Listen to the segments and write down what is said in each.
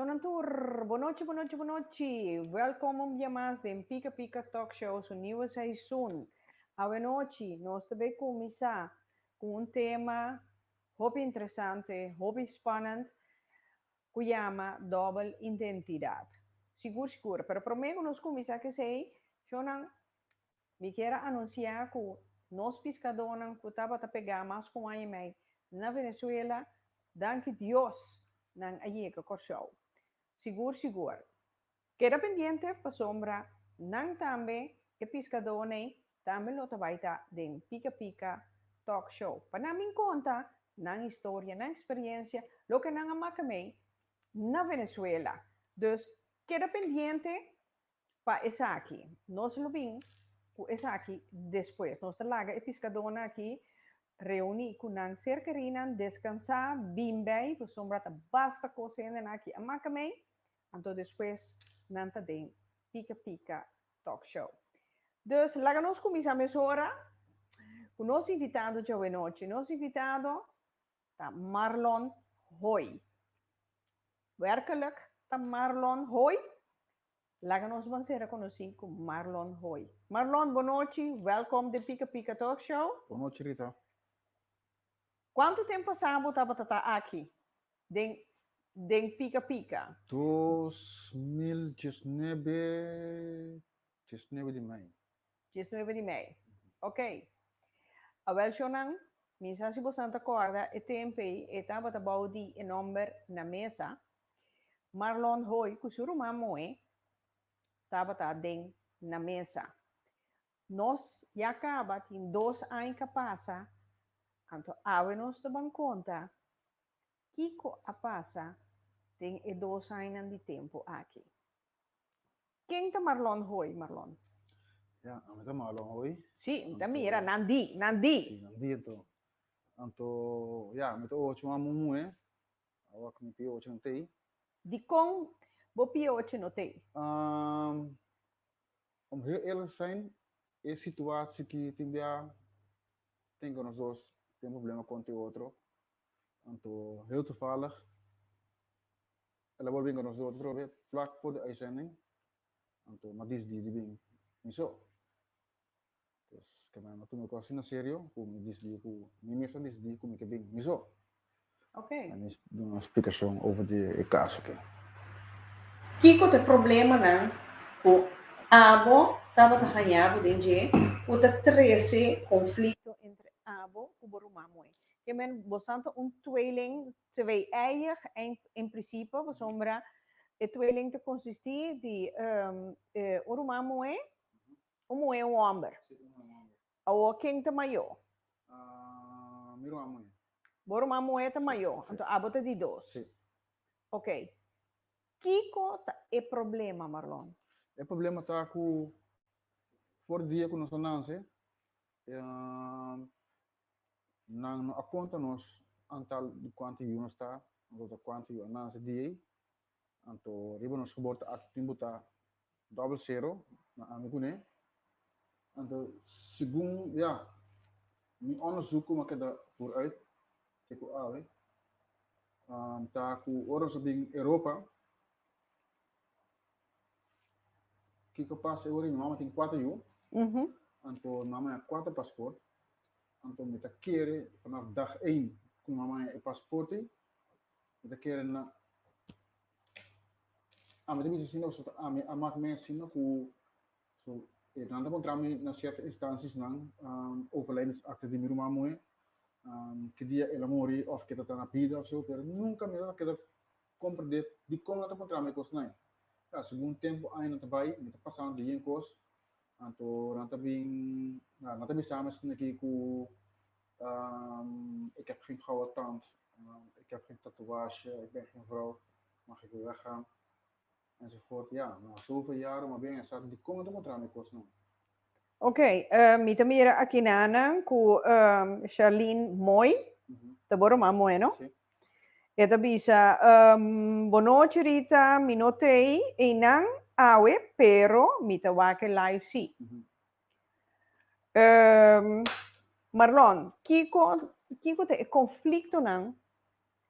Shonan tur, bo nochi, bo nochi, bo nochi. Welkom un bia mas den Pika Pika Talk Show su niue seisun. Awe nochi nos ta bai kuminsá ku un tema hopi interesante, hopi spannend ku yama dòbel identidat. Sigur sigur, pero promé ku nos kuminsá ku esei, shonan, Mi kier a anuncia cu nos piscadónan cu tabata pegá mas cu un aña y mei na Venezuela, danki Dios nan a yega Kòrsou. Sigur sigur. Keda pendiente pasobra nan tambe, e piscadónan ei, tambe lo ta bai ta den Pica Pica Talk Show pa nan bin conta nan historia, nan experiencia, loke nan a maca mei na Venezuela. Dus keda pendiente. Pa esaki, nos lo bin ku esaki despues. Nos ta laga e piskadónan aki reuní ku nan ser kerinan, deskansá, bin bai, pasobra ta basta kos hendenan aki a maka mei. Anto despues nan ta den Pika Pika Talk Show. Dus laga nos kuminsá mesora ku nos invitado djawenochi. Nos invitado ta Marlon Hoy. Werkelijk ta Marlon Hoy Laga nos mancera conoci cu Marlon Hoy. Marlon, bo nochi, welcom den Pika Pika Talk Show. Bo nochi Rita. Cuanto tempo pasa bo tabata ta aki den den Pika Pika? Dos mil diesnebe, diesnebe di mei. Dies nuebe di mei. Ok. Awel shownan, mi sa si bosnan ta kòrda e temp ei, e tabata bou di e nòmber na mesa. Marlon Hoy ku su ruman Moe tabata den na mesa. Nos ya kaba tin dos aña ka pasa, anto awe nos ta ban konta kiko a pasa den e dos añanan di tempu aki. Ken ta Marlon hoy, Marlon? Ya, ami ta Marlon hoy. Si, mi ta Anto- mira, nan di, nan di. Sí, nan di anto. Anto, ya, mi ta ocho amo muhé. Awa cu mi pia ocho no tei. Di con bo pia ocho no tei? Ahm, om heel eerlijk te zijn, e situatie ki tin bia, denk dat nos dos tin problema con te otro. Anto, heel toevallig, El a bolbe inconoce otro otro vez vlak for de uitzending. Anto no a dis Didi bin mi so. Pues ke mi a tuma e kos asina serio ku mi dis di ku mi mes a dis di ku mi ke bin mi so. Ok. En mi duna un splikashon over di e kaso ke. Kiko ta e problemanan ku abo tabata hañá bo den dje ku ta trese konflikto entre abo ku bo ruman moe? Ke men bosan ta un tweeling Te wei eig en prisipo pasobra e tweeling ta konsistí di un ruman muhé, un muhé un hòmber. Awor ken ta mayó? Mi ruman muhé. Bo ruman muhé ta mayó, anto abo ta di dos. Ok, kiko ta e problema Marlon? E problema ta ku for dia ku nos a nanse Nan no a konta nos antal di kuantu yu nos ta, anto ta kuantu yu a nasa di ei, anto riba nos kobor ta aki tin bo ta dòbel sero na ami kuné. Anto segun ya mi òndersuk kuma keda vooruit ke ku awe ta ku ora nos a bin Europa, Kiko pasa e ora mi mama tin kuater yu, anto mi mama ya kuater pasport, anto mi ta kere vanaf dag één ku mi mama e pasporte, mi ta kere na ami ta bisa asina, pasobra ami a mak mi asina ku so nan ta kontra mi na sierto instansisnan, overlijdensakte di mi ruman moe, ki dia el a muri òf ke ta tra na bida òf so, pero nunka mi no ta keda Comprende dikon nan ta puntra mi e kos nai. Kla, segun tempu, aña nan ta bai, mi ta pasa nan ta yen kos, anto nan ta bin, kla, nan ta bisa mi asina ki ku, Ik heb geen gouden tand, Ik heb geen tatoeage, Ik ben geen vrouw, mag ik u weggaan? Nan si fort ya. No a sufri ya ora, mas bien e sa di con e ta contra mi cosnan. Ok, mi ta mira akinanan cu Sharlene mooi, ta bo Roman mooi no? Si. E ta bisa, Bon nochi Rita, mi no tey eynan awe pero mi ta wak e live si. Marlon, kico, kico ta e conflictonan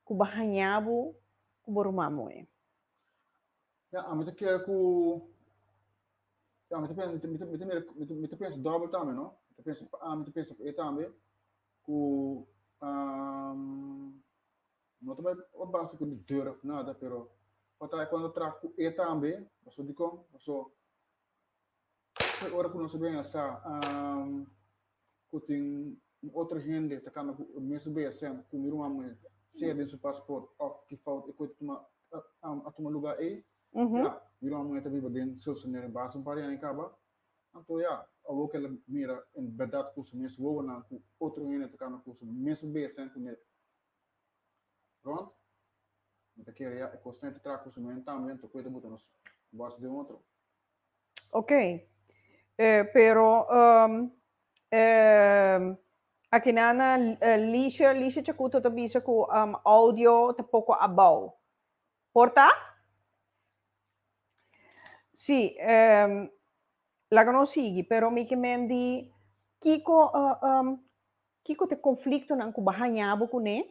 ku bo haña bo ku bo ruman muhé. Ya, ami ta kere ku, ya, mi ta pensa, mi ta, mi ta, mi ta mira, mi ta, mi ta pensa dòbel tambe, no? Mi ta pensa pa ami, mi ta pensa pa e tambe, ku no ta bai pa basta ku di dor òf nada, pero tabata e kuando ta traha ku e tambe, pasobra dikon? Paso. Kue ora ku nos a bini a sa ku tin un otro hende ta kamba ku e mesun BSM ku mi ruman me ser den su pasport òf ki fout e kue a tuma lugá ei? Ya, mi ruman mue ta biba den Soestermeer basta un par di aña kaba. Anto ya, awor ku el a mira en bèrdat ku su mes wowonan ku otro hende ta kamba ku su mesun BSM ku mi a rònt, mi ta kere ya e kos ta traha ku su mente tambe, anto kue ta buta nos bòs den otro? Okey, e, pero, um, e, akinan na e, Licia, Licia Chacuto ta bisa ku um, audio ta poko abou. Por ta? Si, um, laga nos sigui, pero mi ke men di kiko, uh, um, kiko ta e konfliktonan ku bo haña bo kuné?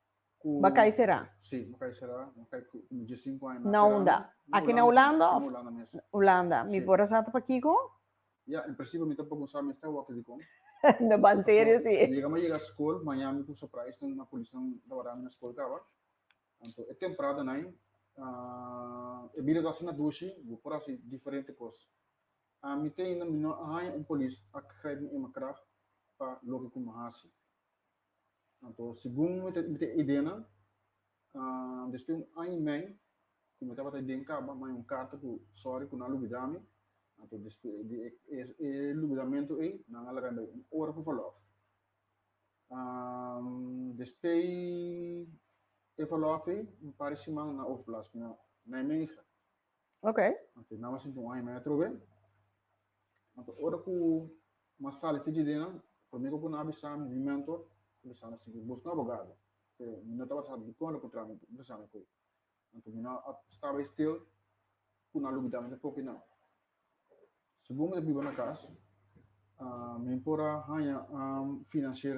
ku Ba kai será. Si, ba kai será, ba kai ku komo dje sinku aña mas. Na unda? Aki na Hulanda of? Na Hulanda mes. Hulanda. Mi por a sa ta pa kiko? Ya, en prinsipio mi ta por kumsa mester a wòkè dikon. Na ban serio si. Yega mi a yega skol, maña mi ku surprise tin na polisnan ta wara mi na skol kaba. Anto e temprada nai e bida ta hasi na dushi, bo por hasi diferente kos. Ami te ainda mi no a haña un polis a grijp mi eenmaal krag pa loke ku mi a hasi. Anto, segun mi te, mi te idenan, uh, después un año men, ku mi tabata den kaba, mai un karta ku sorry ku nan lubidami, anto después di e, e, e lubidamento ei, nan a laga un ora ku verlof. Um, después e verlof ei, un par siman na overplas mi na, na Nijmegen. Ok. Anto, nan a sinti un año men atrobe. Anto ora ku nan sali te dje dena, promé ku ku nan avisa mi, mi mentor a bisa mi siñor, bos no abogado, te mi no tabata sabi dikon lo kontrami bisa mi koe. Anto mi no a staba e stil ku nan lo bida mi pa popi nan. Segun mi ta biba na kas, mi por a haña finansier.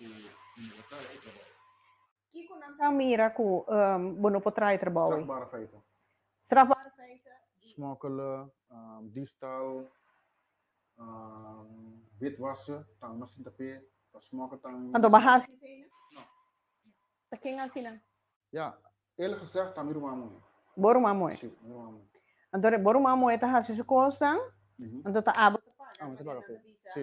e i a traha e trabou. Kiko nan ta mira ku bo no por traha e trabou ei? Strafbare feiten. Strafbare feiten di. Smokkele, diefstal, witwassen, tanga no sinta p'e pa smokkel tanga i. Anto bo a hasi eseinan? No. Ta ken a hasi nan? Ya, el a gezegd ta mi ruman muhé. Bo ruman muhé? Si, mi ruman muhé. Anto bo ruman muhé ta hasi su kosnan, anto ta abo ta paga, abo ta paga p'e. Si.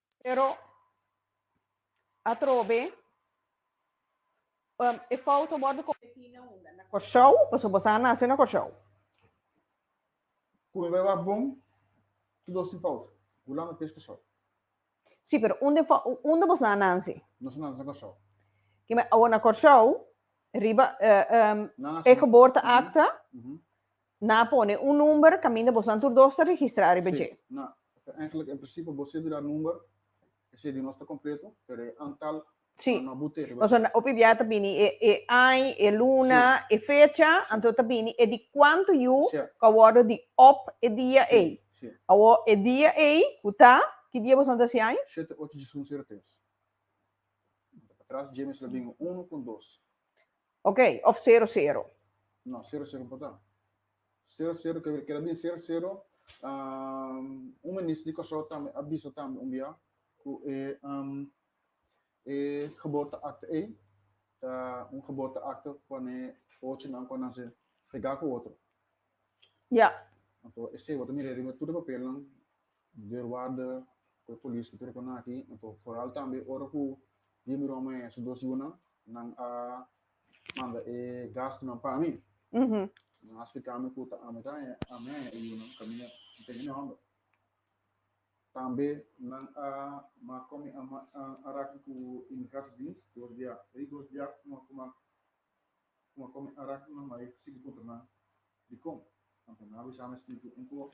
Pero atrobe e fout a wordo cometí na unda? Na Corsow? Pasobra boso a nace na Corsow. Cu e wak bon, tur dos tin fout. Gulam e pes Corsow. Sí, pero unda e fo, unda boso a nace? Nos a nace na Corsow. Oké, ma awor na Corsow, riba e geboorteakte, Na pone un number caminda bosan tur dos ta registra ariba dje. Si, na ta eigenlijk en principe bo ser di da number, esey di nos ta completo, pero e antal Si, na no abu tehe riba nos dje. a hopi bia ta bini e e ai, e luna, Si, e fecha, si. anto ta bini e di cuanto yu Sia. cu a wordo di op e dia Si, ey. si. Awo e dia ey cu ta, ki dia bosan ta hasi aña? Shete, ocho, djis, hunzero, tres. Bo ta pa tras dje mes lo bingo uno con dos. Ok, of sero sero. No, sero sero por ta. Sero sero ke keda bin sero sero. Um, un minister di Kòrsou tambe a bisa tambe un bia ku e um, e geboorteakte ei ta un geboorteakte kuane ochonan kuan nan se fregá ku otro. Ja. Anto esei wòrdu mir'é riba tur e papelnan. Probeer warda cu e polis cu tur cona aki, enton foral tambe ora cu Ria miró me su dos yunan, nan a manda e gastunan pa mi. Nan a splica me cu ta ami ta haña ami haña e yunan, cu ami no a tene ni homber. Tambe nan a mak cu ami a raki cu Immigratiedienst dos bia, e dos bia kuma kuma kuma cu ami a raki cu nan mari sigui puntra nan dicon, anto nan a bisa me stinti un coho.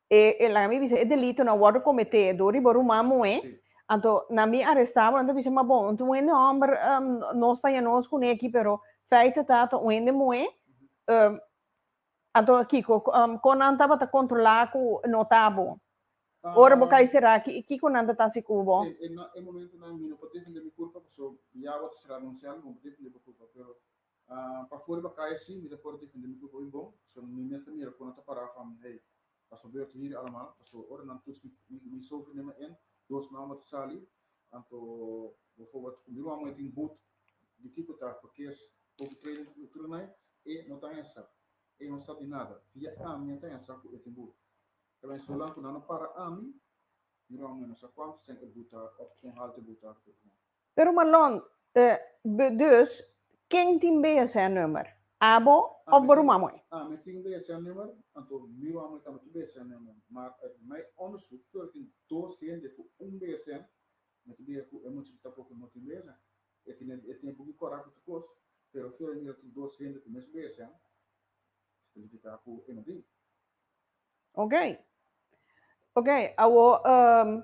E laga mi bisa e delitonan wòrdu kometé dor riba ruman muhé, anto na mi arestá bo nan ta bisa ma bon un hende hòmber nos ta yanos kuné aki pero fèite ta ta un hende muhé, anto kiko kon nan tabata kontrolá ku no ta bo? Ora bo kai será aki kiko nan ta ta hasi ku bo? E momentonan mi no por defendé mi kurpa pasobra Yahua ta será anunsá, mi no por defendé bo kurpa pero Pa foor iba kaya si, mi ta por defende mi grupo bin bon, so mi mes ta mira kon nan ta para fami hey, ta gebeurd hiri alamal, pasobra ora nan tuts mi sofri den mi en, dos man bo ta sali, anto boforbot ku mi ruman moe tin boot di kiko ta verkeers overtreding ku tur nai, e no ta hensa, e no sa di nada, via ami a ta hensa ku e tin boot, ta bai zolang ku nan no para ami, mi ruman moe no sa kuantu seng e boot ta, òf kon haltu e boot ta, ta tur nai. Pero Marlon, eh, dus, ken tin BSN nummer? Abo of Borumamoe? Ah, mi tin BSN nummer, anto mi Rumamoe tambe tin BSN nummer. Maar uit mij onderzoek veo dat tin dos hende cu un BSN, mi ta bira cu e muchacho tampoco no tin BSN. E tin e tin e buki cora cu tur cos, pero veo mi dat tin dos hende cu mes BSN, significa cu e no tin. Oké, oké, awor, ehm,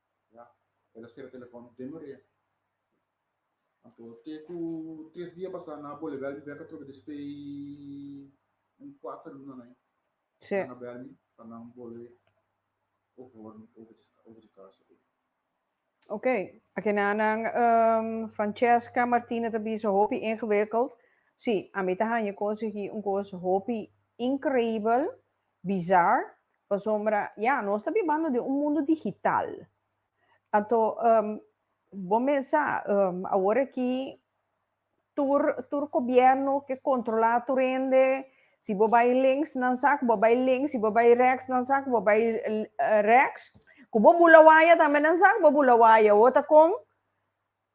Ya, el a sera telefòn den Maria. Anto, te ku tres dia pasá nan a bolbe al mi bèk atrobe despei un kuater luna na ei. Sí. Nan a bèl mi pa nan bolbe ohor mi over di, over di kasa ei. Ok, a kena nan ehm, Francesca Martine ta bisa hopi ingewikkeld. Sí, a mi ta haña konsegí un kos hopi inkreibel Bizar, pasobra ya, nos ta bibando den un mundu digital. Anto, bo mes sa, awor aki tur, tur gobierno ke controla tur hende, si bo bai links nan sa ku bo bai links, si bo bai reks nan sa ku bo bai reks, ku bo bula waya tambe nan sa ku bo bula waya, awor ta kon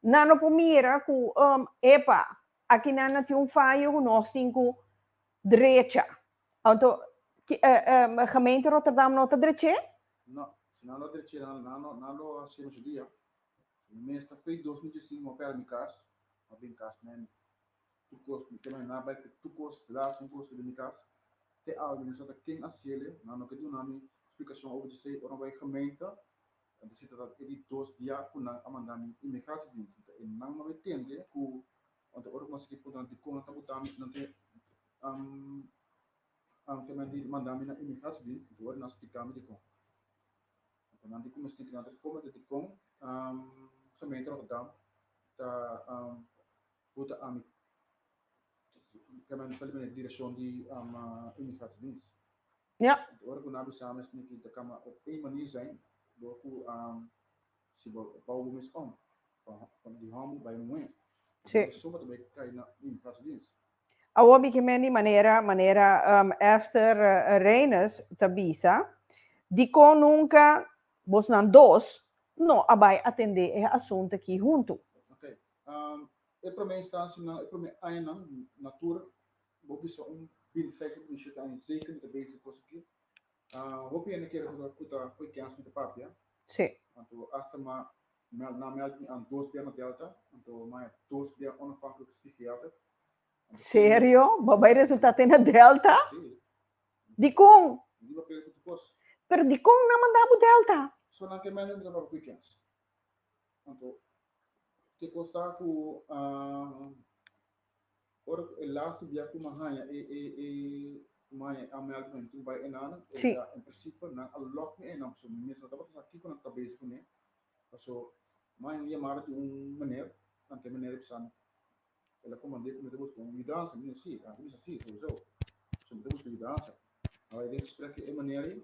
Nan lo por mira cu, um, epa, aki nan a tin un fayo cu nos tin cu drecha. Anto, ki, e, e, gemeente Rotterdam no ta dreche? No. Si nan lo dreche, nan, nan lo, nan lo haci nos idea. Mi mester fei dos mil diescint mo pera mi cas, pa bin cas me mi. Tur cos, mi kema hernda bai cu tur cos, las un cos riba mi cas. Te algu mi no sa ta ken a haciele, nan no ke duna mi splicacion over di esey. Ora mi bai gemeente, Anto si ta trat e di dos dia ku nan a manda mi imigrashediens, si ta e nan no e tende ku anto ora ku nan sigui puntra nan dikon nan ta buta mi, nan te kementi manda mi na imigrashediens, anto ora nan a splika mi dikon. Anto nan di ku mi sigui nan ta kome ta dikon gemeente Rotterdam ta buta ami kementi sali manera di direkshon di imigrashediens. Yep. Di ora ku nan a bisa mes tin kita kamba op e manir zain bo ku si bo bou bo mes om pa di homber bai muhé bo ta suma ta bai kai na un pas dins. Awo mi ke mendi manera manera Esther Reines ta bisa dikon nunka bosnan dos no a bai atendé e asuntu aki huntu. Ok. E promé instansianan e promé añanan na tur Bo bisa un bintesei ku Misha ta aña zeker mi ta bezig ku kos aki. Hopi hende kere ku ku ta koe kens mi ta papia. Sí. Anto asta ma mel nan mel mi an dos bia na Delta anto ma e dos bia onafhanklik spigeater. Serio? Bo bai resulta te na Delta? Sí. Dikon? Mi di bo kere ku tu kos. Pero dikon nan manda bo Delta? So nan ke mende mi ta papia koe kens. Anto ke kos ta ku. Ora cu e laster bia cu me haya e, e, e, cu me haya e amel cu hentu bay enan, e Sí. ta, en principio, nan a lock mi enan, paso mi mes no tabata sa kico nan ta bezig cu ne, paso me haya un yamada di un meneer, ante e meneer a bisa mi, el a comand'é cu mi ta busca un yudansa, mi di sí, el a bisa sí, sowieso, so mi ta busca yudansa, a bay den gesprek cu e meneer ey,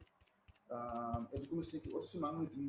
ah, el a cuminsa sintí otro siman mi tin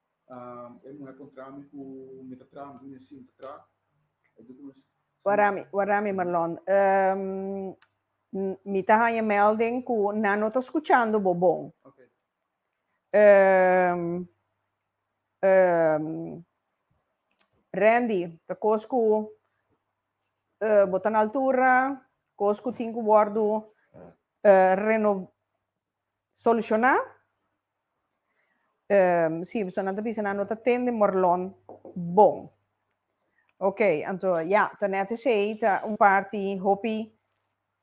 Warami Marlon, mi ta haña melding ku nan no ta skuchando bo bon. Randy, ta kos ku bo ta na altura, kos ku tin ku wòrdu reno. Solushoná? Ehm, sí, personanan ta bisa nan no ta tende morlòn bon. Ok, anto ya, ta nèt esei ta un parti hopi,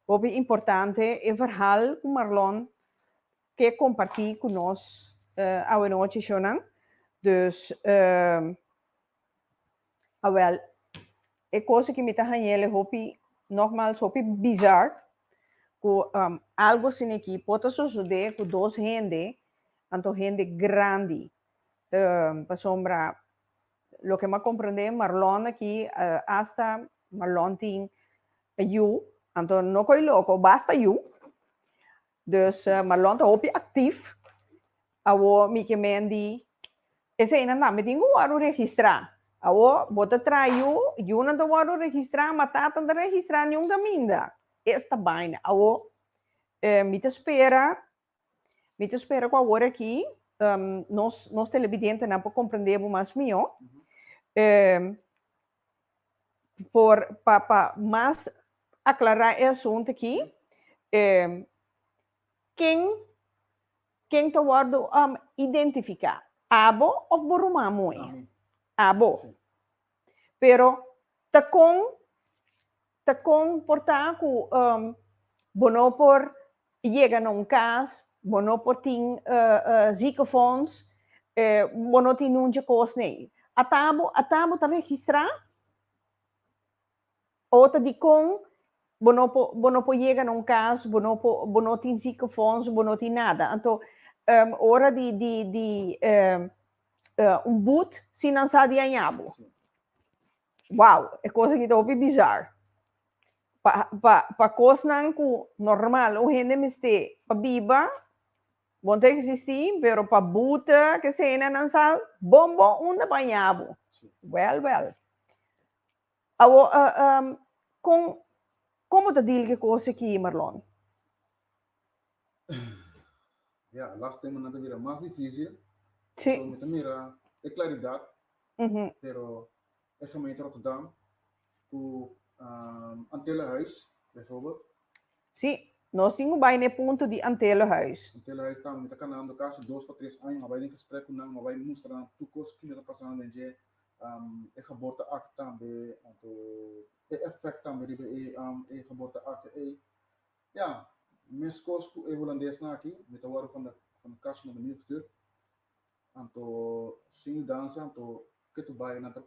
hopi importante, e verhal ku Marlon ke kompartí ku nos awe nochi, shownan. Dus, ehm. Awel, e cosa ki mi ta hañel e hopi, nogmaals, hopi bizar, cu um, algo asina aquí por ta sosode cu dos hende, anto hende grandi. Um, pasobra, loke mi a comprende, Marlon aquí, uh, hasta Marlon tin yu, anto no coi loco, basta yu. Dus Marlon ta hopi actief awor mi ke men di eseinan tambe tin cu wordo registra awor bo ta traha yu yunan ta wordo registra ma tatan ta registra niun caminda esta baina awor mi ta spera mi ta spera cu awor aki nos nos telebidentenan por comprende bo mas mihor. por pa pa mas aclara e asunto aki ken ken ta wordo identifica abo of bo ruman moe? Abo pero ta con Ta kon por ta ku bo no por yega na un kas, bo no por tin ziekenfonds, bo no tin nun dje kos nei? A ta bo a ta bo ta registrá? Ou ta dikon bo no por bo no por yega na un kas, bo no por bo no tin ziekenfonds, bo no tin nada? Anto ora di di di un but si nan sa di aña bo. Wow, e cos aki ta hopi bizar. Pa, pa, pa cosnan cu normal un hende mester pa biba, bon ta existi, pero pa buta keseynan nan sal, bon, bon, unda baña bo? Well, well. Awo, uh, uh, con, con bo ta deal cu e cos aki, Marlon? Ya, last time nan ta bira mas difícil. Sí. So, mi ta mira e claridad, Ujú. pero e gemeente Rotterdam, cu um, Antelenhuis, bijvoorbeeld, Sí, nos tin un bai na e punto di Antelenhuis. Antelenhuis tambe, mi ta kanando casi dos pa tres aña, mi a bai den gesprek cu nan, mi a bai mustra nan tur cos cu lo ta pasando den dje, um, e geboorteakte tambe, anto e effect tambe riba e, um, e geboorteakte ei. Ya, meskos ku e hulandesnan aki, mi ta wòrdu van de kast na Domingo stuur. Anto, sin mudansa, anto ke tur bai nan ta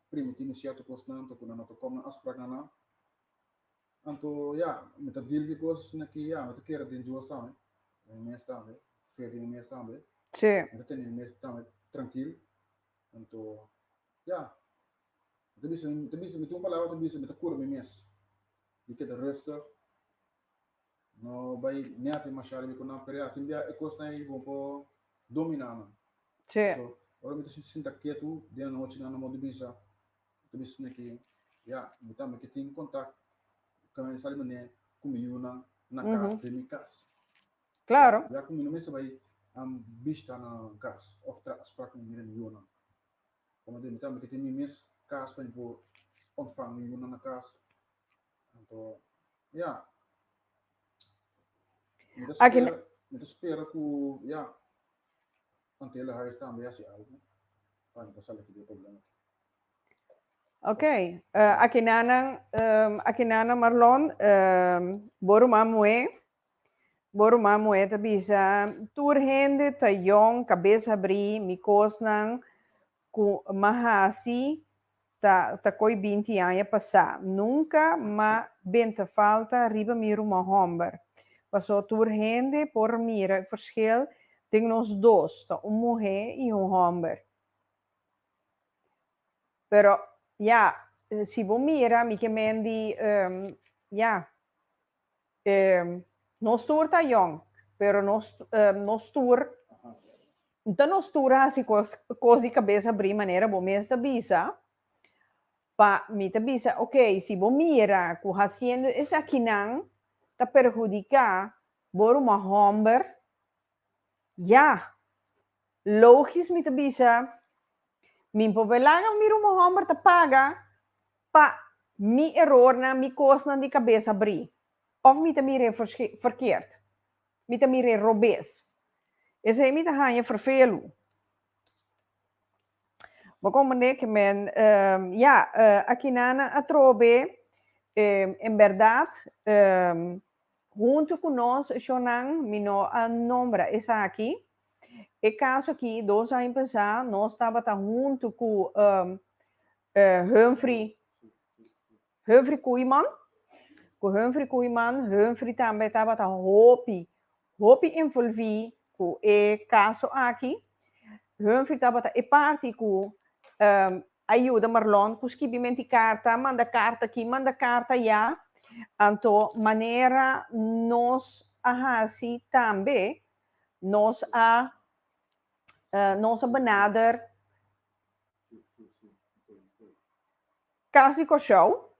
primiti mi sierto kosnan, anto ku nan no ta kom na afsprak na nan. Anto, ya, mi ta dil ki kos na ki, ya, mi ta kere den Dios tambe, den mi mes tambe, fe den mi mes tambe. Sí. Mi ta tene mi mes tambe trankil. Anto, ya, mi ta bisa, mi ta bisa, mi tin un palabra mi ta bisa, mi ta kura mi mes. di keda resto no bai neafi mashado bi ku nan perea tin bia e kosnan ei bon por dominá nan Sí. so ora mi ta sinta ketu den anochi nan no modo bisa mi ta bisa neki ya mi tambe ke tin kontak kan esal di manera ku mi yunan na Ujú. kas den mi kas Claro. ya ku mi no mester bai am bishta na kas of tras pra ku mi mira mi yunan Komo tin mi tambe ke tin mi mes kas pa mi por ontvang mi yunan na kas. Anto ya mi ta Aki spera, mi ta spera ku ya Antele Hais tambe hasi algu pa mi pa sali for di e problema aki. Ok, eh, aki nanan, eh, aki nanan Marlon, eh, bo ruman Moe, Bo ruman muhé ta bisa, Tur hende ta yòn, kabes habrí, mi kosnan ku m'a hasi ta ta koi binti aña pasá, nunka m'a ben ta falta riba mi ruman hòmber. Pasó tur hende por mira e fershel den nos dos, ta un muhé i un hòmber. Pero, ya, si bo mira, mi ke mendi, ya. Nos tur ta yong, pero nos nos tur no ta nos tur hasi cos cos di cabes abri manera bo mes ta bisa, pa mi ta bisa ok si bo mira cu haciendo esakinan ta perhudica bo ruma homber ya logisch mi ta bisa mi por be laga mi ruma homber ta paga Pa mi erornan, mi kosnan di kabesa bri. Òf mi ta mir'é ferkeert. Mi ta mir'é robes. Esei mi ta haña ferfelu. Bo komprendé ke men, ya, akinana atrobe, en bèrdat, huntu ku nos shonnan, mi no a nombra esaki, e kaso akí, dos aña pasá nos tabata huntu ku Humphrey Humphrey Koeman, ku Humphrey Koeman, Humphrey tambe tabata hopi, hopi envolví ku e kaso aki. Humphrey tabata e parti ku um a yuda Marlon ku skibimenti karta, manda karta aki, manda karta ayá. Anto manera nos a hasi tambe, nos a nos a benader Casi coshou,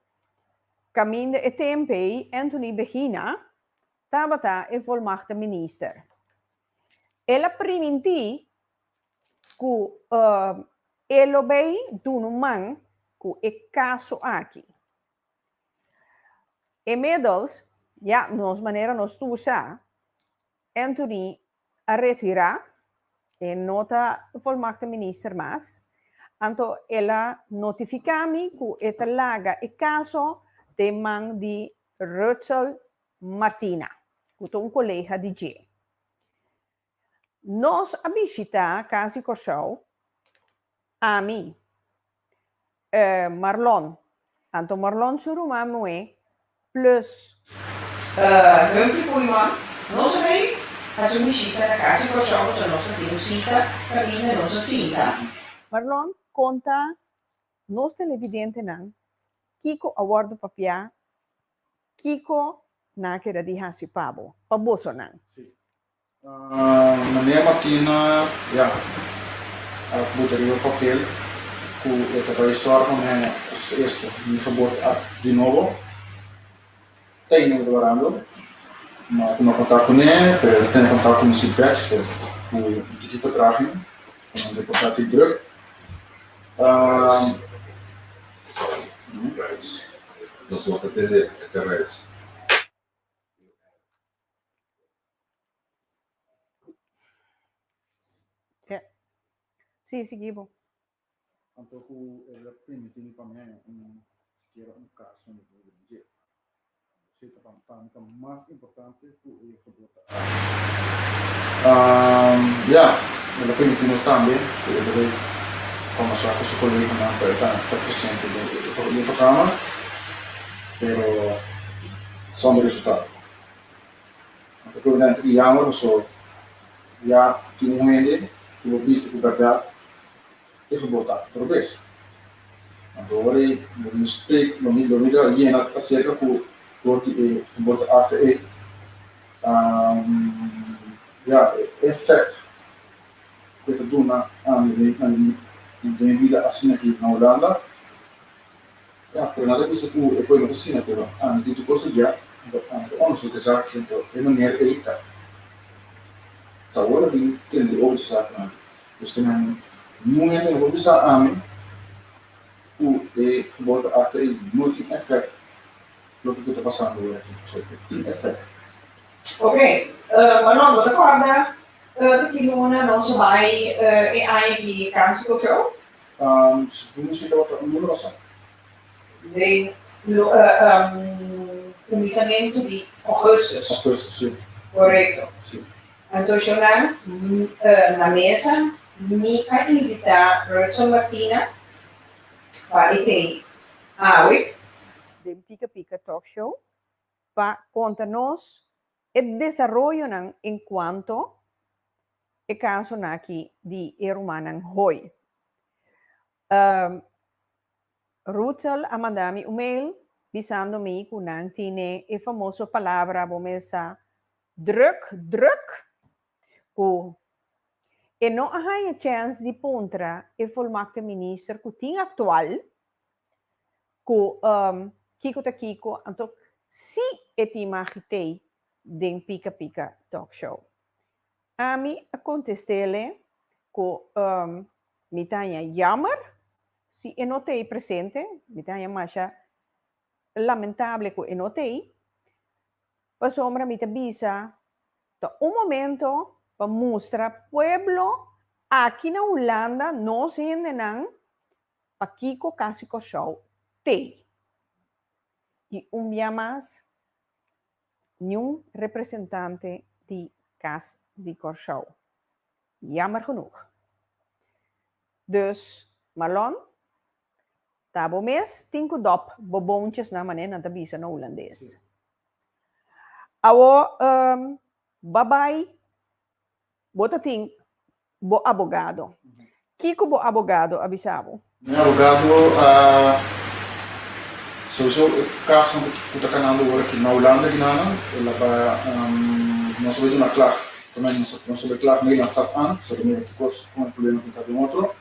caminda e tempo ei Anthony Begina tabata e volmachta minister. El a priminti cu e lo bay dunu man cu e caso aki. Inmiddels, ya, nos manera nos ta usa, Anthony a retira, e no ta volmagte minister mas, anto el a notifica mi cu e ta laga e caso den man di Rutshel Martina, cu ta un colega di dje. Nos a bishita cas di Corsou, ami, E Marlon, tanto Marlon su ruman muhé, plus. E Humphrey Koeiman, Nos a bay haci un bishita na casa di Kòrsou pasobra nos ta tin un cita caminda nos a sinta. Marlon, Conta nos televidentenan kico a wòrdu papiá, kico nan a keda di haci pa bo, pa bosonan. Manera Martina ya a buta riba papel cu e ta bay sora pa mene es esta, mi fabor ta act di nobo. Ey no ignorando, no a tuma contact cu ne, pero el a tene contact cu mi si Baxter, cu un tiki ta traha mi, cu nan ta e portatil druk. Sí, sigui bo. Anto ku e lo permití mi pa mi haña un sikiera un kas wen di Biblia dje. Si ta pa mi, pa mi ta mas importante ku e gebod ta acht. Um, ya, e lo permití nos tambe ku e debe konversá ku su koleganan ku e ta ta presente den e otro e otro kamer, pero sonder resultado. Nan ta torná i yama bo so ya tin un hende ku bo bisa ku bèrdat e ta bota aki probes. Nan ta ora ei bo mistake lo mi lo mi ta yena aserka ku dor di e ta bota aki ei ya e effect ku e ta duna ami den mi vida asinaki na Hulanda. Ya, pero nan ta bisa ku e poema ta siña ku Ana tin tur kos ta dia, anto Ana ta onderzoek esaki, anto e manera ku ei ta ta wòrdu a bin tende oca esakinan. Pues ke nan nuhende no por bisa ami ku e geboorte acta ei no tin efèkt loke ku ta pasando ora aki. Pasobra ke tin efèkt. Oke, Manolo, bo ta kòrda tok e luna nos a bai e aña di Cáncer Cofeu? Duna cheka otro numero sa. Lei lo cuminsamentu di augustus. Augustus si. Corecto. Si. Anto yo na na mesa mi a invita Roetson Martina pa e teni awe. Den Pica Pica Talk Show pa conta nos E desaroyonan en cuanto e caso naki di e rumannan Hoy. Rutsel a manda mi un mail bisando mi cu nan tine e famoso palabra bo mes sa druk druk cu e no a hanja chens di puntra e volmaakte minister cu tin actual, ku um kiko ta kiko anto si e tin magi tei den Pika Pika Talk Show. Ami a kontestele ku um mi ta haña yammer si e no tei presente, mi ta haña masha lamentable ku e no tei, pasobra mi ta bisa ta un momento pa mustra pueblo aki na Hulanda, nos hendenan, Pakiko kasi Kòrsou t'ei. I un bia mas, niun representante di Kas di Kòrsou. Yammer genoeg. Dus, Marlon, ta bo mes tin ku dòp bo bountjesnan, manera nan ta bisa na hulandes. Awor, ba bai. Bo ta tin bo abogado. Kiko bo abogado a bisa bo? Mi abogado a solisitá e kasnan ku ta kanando ora aki na Hulanda aki nan. El a ba nos a bai duna klag. Tambe nos a bai klag na Ilan Stad Aan for ta mira kikos kon e problema ku ta den otro.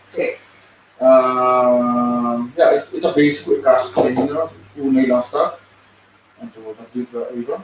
Ya, e ta bezi ku e kas ku ta hende na Ilan Stad. Anto bo ta bibra aiba.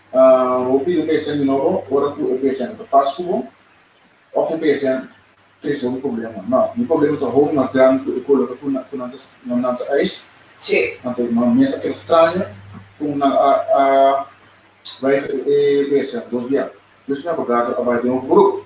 Bo pidi p'esnan di nobo ora ku e p'esnan ta pas ku bo? Òf e p'esnan tres hopi problema? Nò, mi problema ta hopi mas grandi ku e koloka ku nan ta eis. Tje! Nan ta mas mester a keda straña ku nan a bai e p'esnan dos bia. Pues mi abogado a bai den hopi bruk.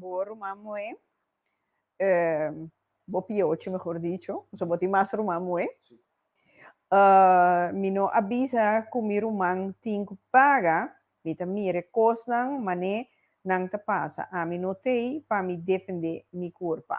Bo ruman moe, bo piochi mehor dicho, pasobra bo tin mas ruman moe, mi no a bisa ku mi ruman tin ku paga, mi ta mira e kosnan manera nan ta pasa, ami no ta ei pa mi defendé mi kurpa.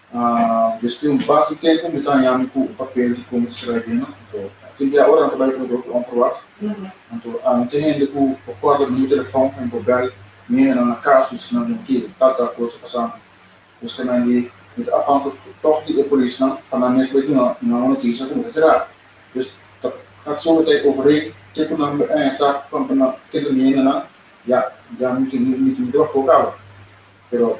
Despues di un pas di tempu mi ta haña mi ku un papel di komo Israelino. Anto kil dia ora nan ta bai Ecuador ku onverwacht. Anto a un te hende ku por kòrda mi number telefòn pa mi por bèl mi hendenan na kas mi si nan den kil tal tal kos a pasa mi. Justamente mi ta afan ku tòg di e polisnan pa nan mes bai duna nan un notisia ku mi ta será. Pues ta hak so mi ta overeen ke ku nan bai haña sa pa nan kende mi hendenan ya ya mi tin mi tin miti bafó kawa pero.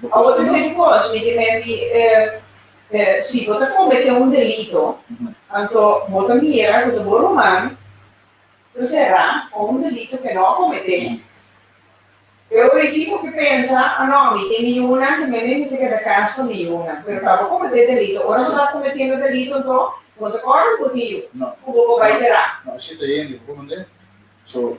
Bo ta bisa e kos, mi ke menti e, e, si bo ta kometé un delito, anto bo ta mira ku ta bo ruman ta será pa un delito ke no a kometé. E ora esei bo ke pensa, a no, mi tin mi yunan ke mi mi mester keda kas pa mi yunan, pero ta bo kometé delito. Ora bo ta kometiendo delito anto bo ta kòrda ku bo tin yu, ku bo por bai será. No, esei ta hende ku bo manda. So,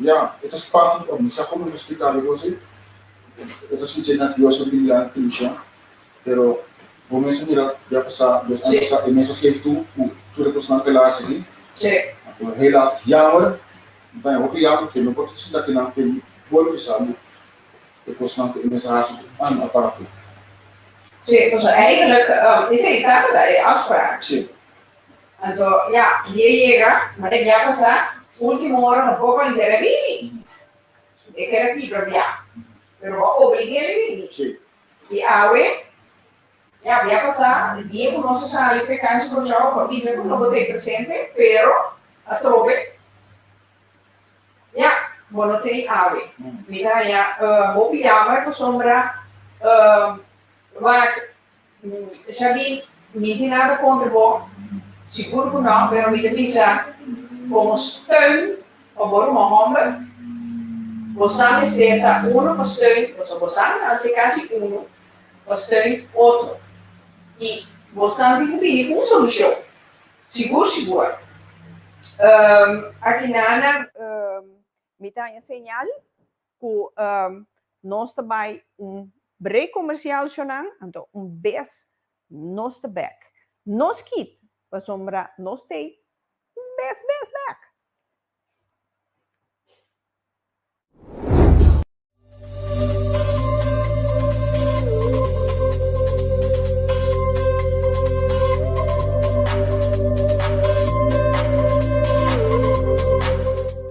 Ya, e ta spant pa mi. Sa kon mi por spliká di gosi? E ta sintié nervioso bin di Ante Televishon, pero bo mes a mira di a pasá dos aña pasá e mes a gevi tur ku tur e kosnan ke el a hasi aki. Anto helas, yammer, mi ta hopi yammer paske no por ta sinta ke nan ken boli bisa bo e kosnan ku e mes a hasi ku aña aparte. Esei ta keda e afspraak. Anto ya, di a yega, ma e bia pasa, ultimo ora no por pa entera e bini. E keda kibra bia, pero bo a oblige'l e bini. I awe, ya bia pasa, e dia ku nos a sali fekansi ku João pa bisa ku no bo ta e presente, pero atrobe, ya, bo no teni awe. Mi ta haña hopi yamber pasobra wak Esha di, Mi tin nada contra bo, sigur cu no, pero mi ta bisa, como steun pa bo ruman homber, bo sa mester ta uno pa steun, pasobra bo sa nan a ser casi uno, pa steun otro. Y bosnan tin cu bini cu un solucion, sigur sigur. Aki na nan mi ta haña señal Ku nos ta bai un brek komersial sho nan, anto un bes nos ta bèk nos kit pasobra nos ta ei un bes bes bèk.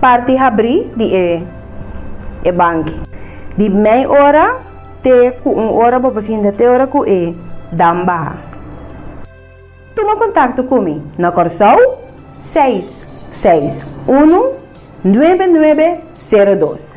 Parti habrí di e e banki. Di mei ora te ku un ora bo pasinta te ora ku e dam baha. Tuma kontakto ku mi na Kòrsou seis seis unu nuebe nuebe sero dos.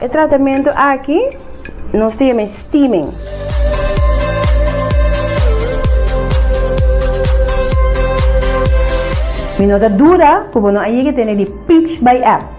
E tratamentu aki nos ta yam'e steaming. Mi no ta duda ku bo no a yega tene di Peach by App.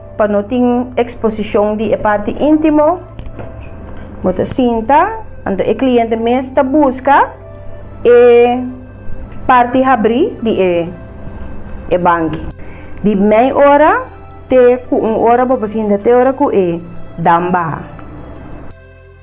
Pa no tin exposicion di e parti intimo, bo ta sinta, anto e cliente mes ta busca e parti habri di e e banki, di mei ora te cu un ora bo por sinta te ora cu e dam baha.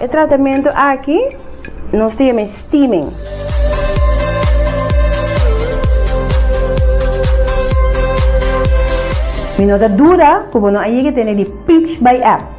E tratamiento aki nos te llama steaming. Mi no ta duda cu bo no a yega tene di Peach by App.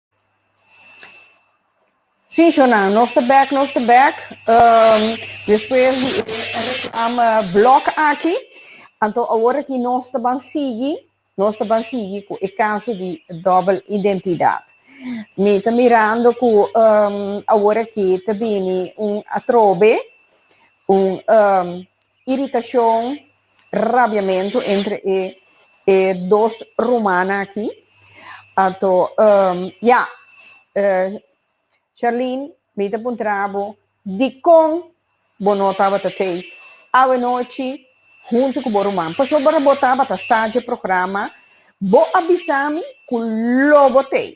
Sí, Sjonan, nos ta bèk, nos ta bèk. Um, despues di e reklama blòk aki, anto awor aki nos ta ban sigui, nos ta ban sigui ku e kaso di dobbel identidat. Mi ta mirando ku um, awor aki ta bini un atrobe, un um, iritacion, rabiamentu entre e e dos rumannan aki. Anto, ehm, ya, eh, Sherlyn, mi ta puntra bo, dikon bo no tabata tei awenochi huntu ku bo ruman? Pasobra ora bo tabata sa dje programa, bo a bisa mi ku lo bo tei.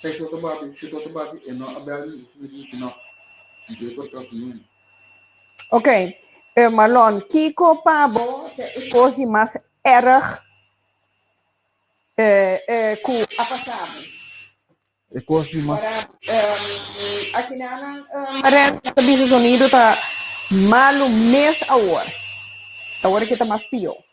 Seis ota bati, siete ota bati, e no a bel mi, si mi di ki no. Mi ke por trasi un. Ok, e Marlon, kiko pa bo ta e kos di mas erg e, e ku a pasa bo? E kos di mas. Um, akinanan, um, Marel, nan ta bisa sonido ta malu mes awor. Ta awor ke ta mas pio.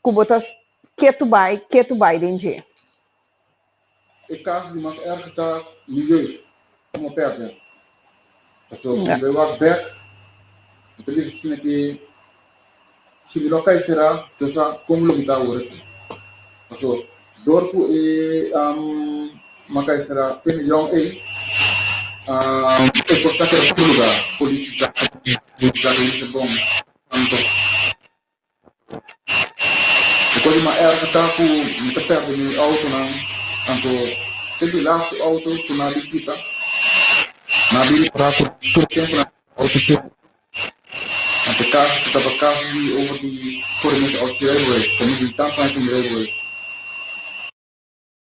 Ku bo ta ketu bai, ketu bai den dje. E kas di mas èrg ta Miguel. Komo a pèrdè. Pasobra ku bo e wak bèk, bo ta bisa asina ke si bo lo kai será, Dios sa kon lo mi ta awor aki. Pasobra dor ku e ma kai será tene yòn ei, e kos ta keda otro lugá. Polis i Zaka, Zaka i bisa bon, Anton. Despues di m'a erga ta cu mi ta perde mi autonan, anto e di laatste auto cu na di kita, na di repara tur tur tempo na e auto cier, anto e caso ta taba caso di over di corriente auto cier rijbewezen, ta mi di tampa na tin rijbewezen.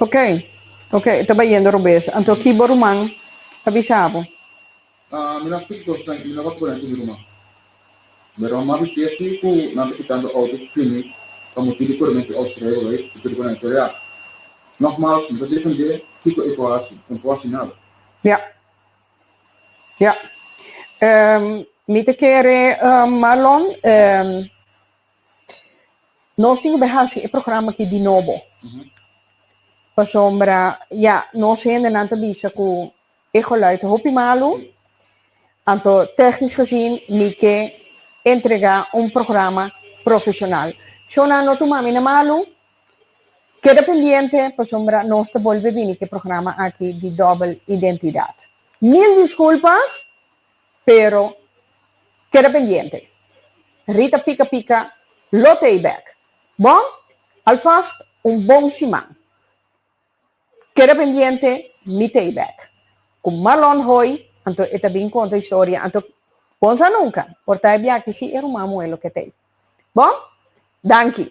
Ok, ok, e ta bayendo robes. Anto ki bo ruman a bisa bo? Ah, mi no a stip dos nan, mi no tabata bunan ku mi ruman. Mi ruman a bisa e si ku nan ta kitando outo ku kimi pa motibu di korimentu di outo srevo lo es, i tur ku nan e kore aki. Nogmals, mi ta defendé kiko e por hasi, e no por hasi nada. Ya, ya. Mi ta kere Marlon, Nos tin ku bai haci e programa aki di nobo. Pasobra, ya, nos hendenan ta bisa ku e geluid ta hopi malu. Anto, technisch gezien, mi ke entrega un programa profesional. Shownan no tuma mi na malu. Keda pendiente, pasobra nos ta bolbe bini ku e programa aki di dobel identidad. Mil disculpas! Pero keda pendiente. Rita pika pika lo te ei bek. Bon, alfast un bon siman. Keda pendiente mi te ei bek. Ku Marlon hoi, anto e ta bin konta historia, anto bon sa nunka por ta ei biaki si e ruman muhé lo ke t'ei. Bon, danki.